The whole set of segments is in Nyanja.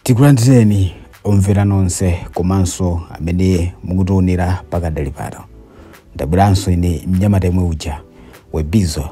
tikulandireni omvera nonse komanso amene mukutionera pakadali pano ndabweranso ine mnyamata yemwe uja webizo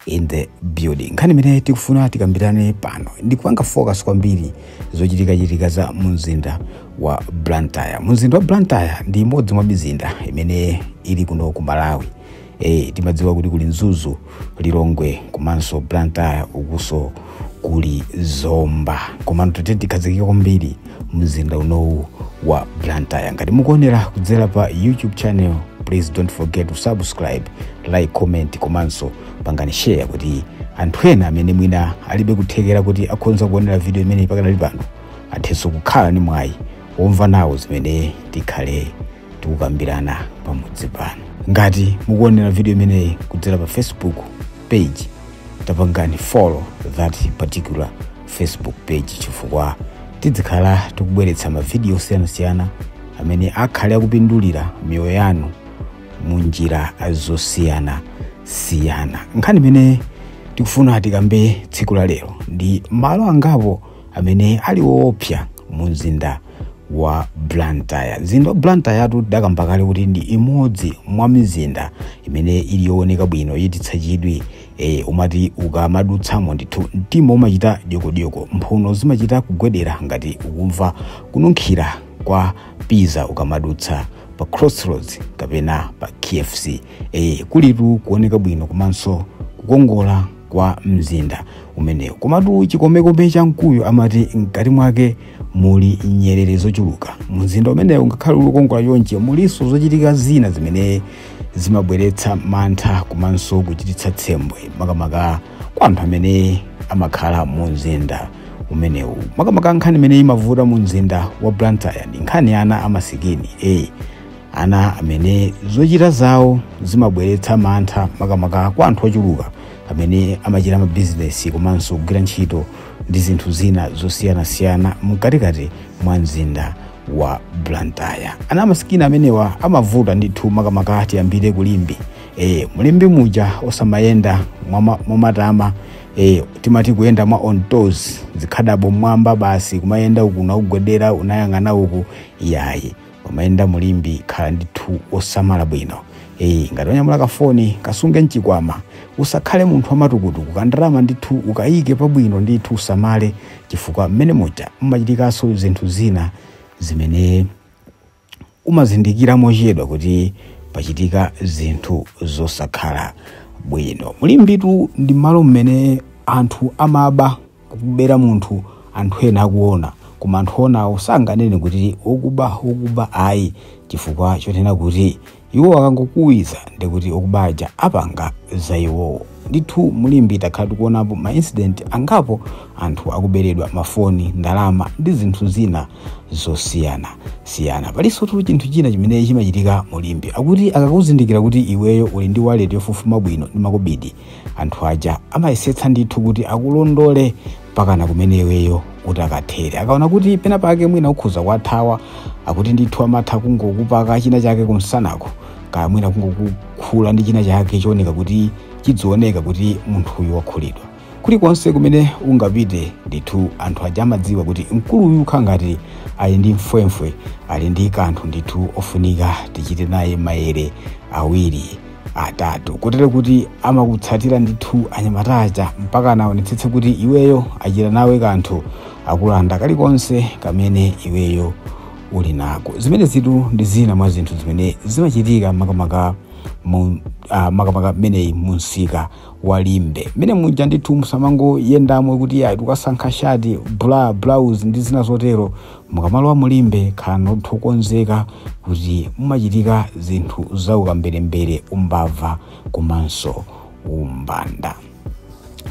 in the building nkhani imene tikufuna tikambirane pano ndikupanga focus kwambiri zochitikachitika za mumzinda wa blantyre mumzinda wa blantyre ndi imodzi mwa mizinda imene ili kuno ku malawi Eh, timadziwa kuti kuli mzuzu lilongwe komanso blantyre ukuso kuli zomba komano tete tikhazikike kwambiri mzinda unowu wa blantyre ngati mukuonera kudzera pa youtube channel please don't forget to subscribe like comment komanso pangani share kuti anthu ena amene mwina alibe kuthekera kuti akhonza kuonera video imeneyi pakadali pano athenso kukhala ni mwayi womva nawo zimene tikhale tikukambirana pamodzi pano ngati mukuonera video imeneyi kudzera pa facebook page tapangani follow that particular facebook page chifukwa tidzikhala tikubweretsa mavidiyo osiyanasiyana amene akhale akupindulira miyoyo yanu mu njira zosiyanasiyana nkhani imene tikufuna tikambe tsiku la lero ndi malo angapo amene ali woopsa mu mzinda wa blantyre mzinda wa blantyre-tu tidakamba kale kuti ndi imodzi mwa mizinda imene ili yooneka bwino yochititsa chidwi e, umati ukamadutsamo ndithu mtima umachita dyokodyoko mphuno zimachita kugwedera ngati ukumva kununkhira kwa pizza ukamadutsa pa crossroads kapena pa kfc e, kulitu kuoneka bwino komanso kukongola kwa mzinda umenewu komatu chikomekome cha mkuyu amati mkati mwake muli nyerere zochuluka mumzinda umenewu ngakhale uli wokongola chonchi mulinso zochitika zina zimene zimabweretsa mantha komanso kuchititsa tsembwe makamaka kwa anthu amene amakhala mumzinda umenewu makamaka nkhani imene imavuta mumzinda wa blantyre ndi nkhani ya ana amasikini e ana amene zochita zawo zimabweretsa mantha makamaka kwa anthu ochuluka amene amachita mabizinesi komanso kugwira ntchito ndi zinthu zina zosiyanasiyana mkatikati mwa mzinda wa blantyre ana amasikini amenewa amavuta ndithu makamaka tiyambire kulimbi e, mulimbi muja osamayenda mwama- mwamatama e, timati kuyenda mwa on toes zikhadabo mwamba basi kumayenda uku nakugwedera unayang'ana uku yayi umayenda mu Limbe khala ndithu osamala bwino eyi ngati wanyamula kafoni kasunge mchikwama usakhale munthu wamatukutuku kandalama ndithu ukayike pabwino ndithu usamale chifukwa mmene muja mumachitikanso zinthu zina zimene umazindikira mochedwa kuti pachitika zinthu zosakhala bwino mu Limbetu ndi malo mmene anthu amaba kubera munthu anthu ena akuona koma anthu onawo sanganene kuti okuba okuba ayi chifukwa chotena kuti iwo akangokuwa ndikuti okuba aja apanga za iwowo ndithu mu Limbe takhala tikuonapo ma incident angapo anthu akuberedwa mafoni ndalama ndi zinthu zina zosiyana siyana palinsotu chinthu china chimene chimachitika mu Limbe akuti akakuzindikira kuti iweyo uli ndi wallet yofufuma bwino ndi makobidi anthu aja amayesetsa ndithu kuti akulondole pakana kumene iweyo utakathere akaona kuti pena pake mwina ukhoza kuwathawa akuti ndithu amatha kungokupaka china chake kumsanako kaya mwina kungokukhula ndi china chake chooneka kuti chidzioneka kuti munthuyu wakhulidwa kulikonse kumene ungapite ndithu anthu aja amadziwa kuti mkuluyu akhala ngati ali ndi mfwemfwe ali ndi kanthu ndithu ofunika tichite naye mayere awiri atatu kotero kuti amakutsatira ndithu anyamata aja mpaka anaonetsetse kuti iweyo achita nawe kanthu akulanda kalikonse kamene iweyo uli nako zimenezitu ndi zina mwa zinthu zimene zimachitika makamaka mu- ah, makamaka mmeneyi mumsika wa Limbe mmene muja ndithu musamangoyendamo kuti ayi tikasankha shati blouse ndi zina zotero mukamalowa mu Limbe khalani okonzeka kuti mumachitika zinthu za ukamberembere umbava komanso umbanda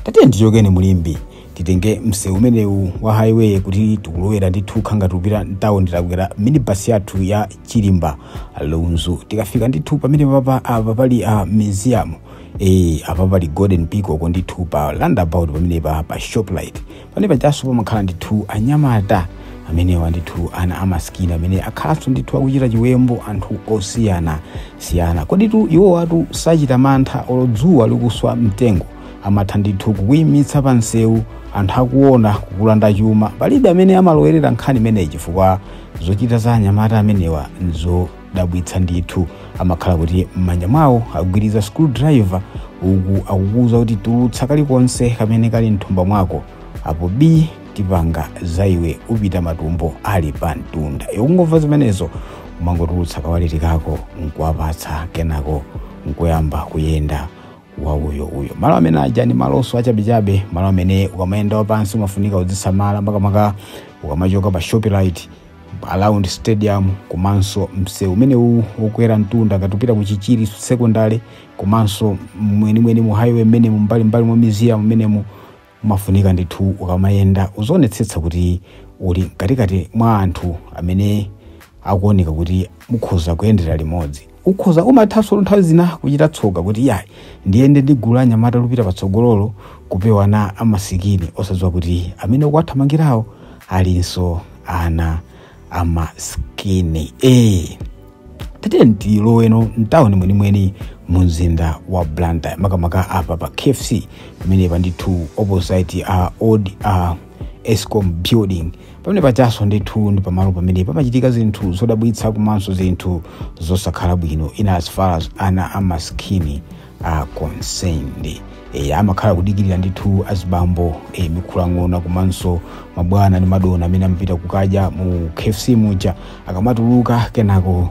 tatiye tichokeni mu Limbe titenge msewu umenewu wa highway kuti tikulowera ndithu kukhala ngati tikupita mtawoni titakwera minibus yathu ya Chirimba Lunzu tikafika ndithu pamene papa apa pali a museum eh apa pali Golden Peacock ndithu pa roundabout pamenepa pa Shoprite pamene pajanso pamakhala ndithu anyamata amenewa ndithu ana amasikini amene akhalanso ndithu akuchita chiwembu anthu osiyana siyana koditu iwowatu sachita mantha olo dzuwa likuswa mtengo amatha ndithu kukuyimitsa pa msewu anthu akuona kukulanda chuma palibe amene amalowerera nkhani imeneyi chifukwa zochita za anyamata amenewa dabwitsa ndithu amakhala kuti m'manja mwawo agwiriza screwdriver uku akukuwuza kuti tulutsa kalikonse kamene kali mthumba mwako apo bii tipanga za iwe upita matumbo ali pamtunda ukungomva zimenezo umangotulutsa kawaleti kako nkuwapatsa kenako nkuyamba kuyenda wauyouyo malo amene aja ndi malonso achabechabe malo amene ukamayenda wapansi umafunika uzisamala makamaka ukamachoka pa Shoprite Around stadium komanso msewu umenewu wokwera mtunda ngati upita ku Chichiri secondary komanso mwenimweni mu highway mmenemu mbali mbali mwa museum mmenemu umafunika ndithu ukamayenda uzionetsetsa kuti uli mkatikati mwa anthu amene akuoneka kuti mukhoza kuyendera limodzi. ukhoza umathanso nthawi zina kuchita tsoka kuti iyayi ndiyende ndi gulu la anyamata lupita patsogololo kupewa ana amasikini osadziwa kuti amene ukuwathamangirawo alinso ana amasikini e tatiyeni tiloweno mtawuni mwenimweni mu mzinda wa blantyre makamaka apa pa kfc pamenepa ndithu opposite old escom building pamenepa cha so ndithu ndi pamalo pamene pamachitika zinthu zodabwitsa komanso zinthu zosakhala bwino in as far as ana amasikini are concerned e, amakhala kudikirira ndithu azibambo e, mikhulang'ona komanso mabwana ndi madona amene amapita kukadya mu kfc muja akamatuluka kenako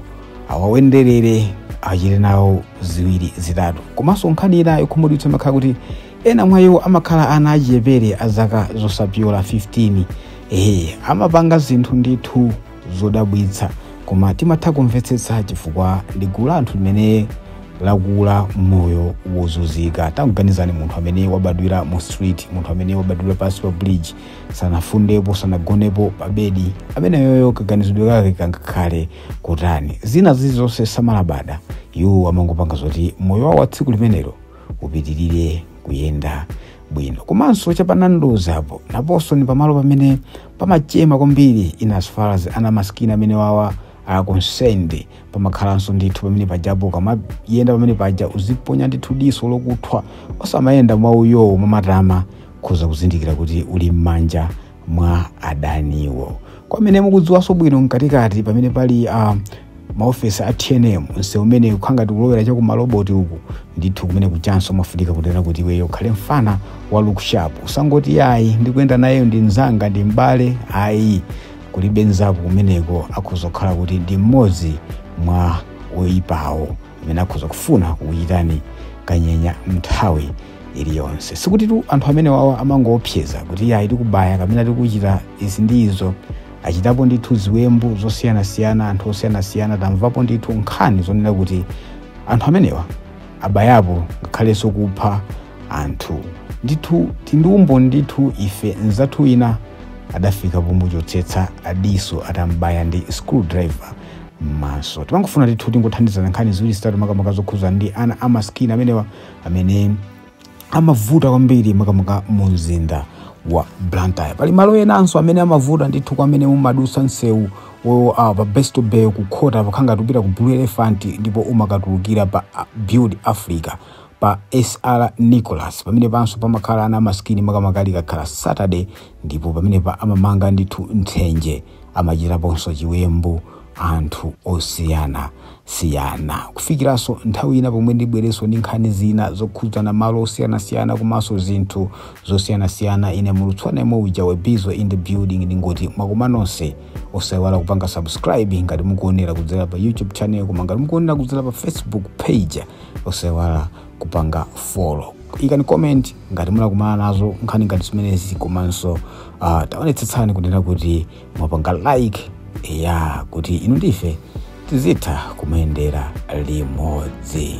awawenderere achite nawo ziwiri zitatu komanso nkhani ina yokhumudwitsa imakhala kuti ena mwa iwo amakhala ana achichepere a zaka zosapyola 15 ehe amapanga zinthu ndithu zodabwitsa koma timatha kumvetsetsa chifukwa ndi gulu la anthu limene lakula moyo wozunzika tanganizani munthu amene wabadwira mu street munthu amene wabadwira pansi pa bridge sanafundepo sanagonepo pa bedi ameneyoyo kaganizidwe kake kangakhale kutani zina zilizonse samalabada iwo amangopanga zoti moyo wawo wa tsiku limenelo upitirire kuyenda bwino komanso cha pa Nandos apo naponso ni pamalo pamene pamachema kwambiri in as far as ana masikini amenewawa are concerned pamakhalanso ndithu pamenepajapo ukamayenda pamenepaja uziponya ndithu diso lokuthwa osamayenda mwauyowo mwamatama ukhoza kuzindikira kuti uli m'manja mwa adaniwo kwa amene mukudziwanso bwino mkatikati pamene pali um, maofesi a tnm msewu umene ukukhala ngati ukulowera cha kumaloboti uku ndithu kumeneku chanso mafunika kutera kuti iweyo ukhale mfana wa looksharp usangoti iyayi ndikuyenda naye uyo ndi mzanga ndi mbale ayi kulibe nzako kumeneko akhoza kukhala kuti ndi mmodzi mwa oyipawo amene akhoza kufuna kukuchitani kanyenya mnthawi iliyonse sikutitu anthu amenewawa amangoopseza kuti iyayi tikubaya kapena tikuchita izi ndi izo achitapo ndithu ziwembu zosiyanasiyana anthu osiyanasiyana tamvapo ndithu nkhani zonena kuti anthu amenewa abayapo ngakhalenso kupha anthu ndithu tili ndi umboni ndithu ife nzathu wina adafika pomuchotsetsa diso atambaya ndi screwdriver m'maso timangofuna ndithu tingothandizana nkhani ziwiri zitatu makamaka zokhudzana ndi ana amasikini amenewa amene amavuta kwambiri makamaka mu mzinda wa blantyre pali malo enanso amene amavuta ndithu kwa amene mumadusa msewu wo ah, pa besto bay kukhota pakhanga ngati ukupita ku blue elephant ndipo umakatulukira pa ah, build africa pa SR Nicholas pamenepanso pamakhala ana amasikini makamaka likakhala Saturday ndipo pamenepa amamanga ndithu nthenje amachitaponso chiwembu anthu osiyana siyana kufikiranso nthawi ina pomwe ndibwerenso ndi nkhani zina zokhudzana malo osiyanasiyana komanso zinthu zosiyanasiyana ine mulutswana yemwe uja webizo in the building ndingoti mwakoma nonse osayiwala kupanga subscribe ngati mukuonera kudzera pa youtube channel koma ngati mukuonera kudzera pa facebook page osaiwala kupanga follow ikani comment ngati munakumana nazo nkhani ngati zimenezi komanso uh, taonetsetsani kunena kuti mwapanga like ya kuti inu ndi ife tizitha kumayendera limodzi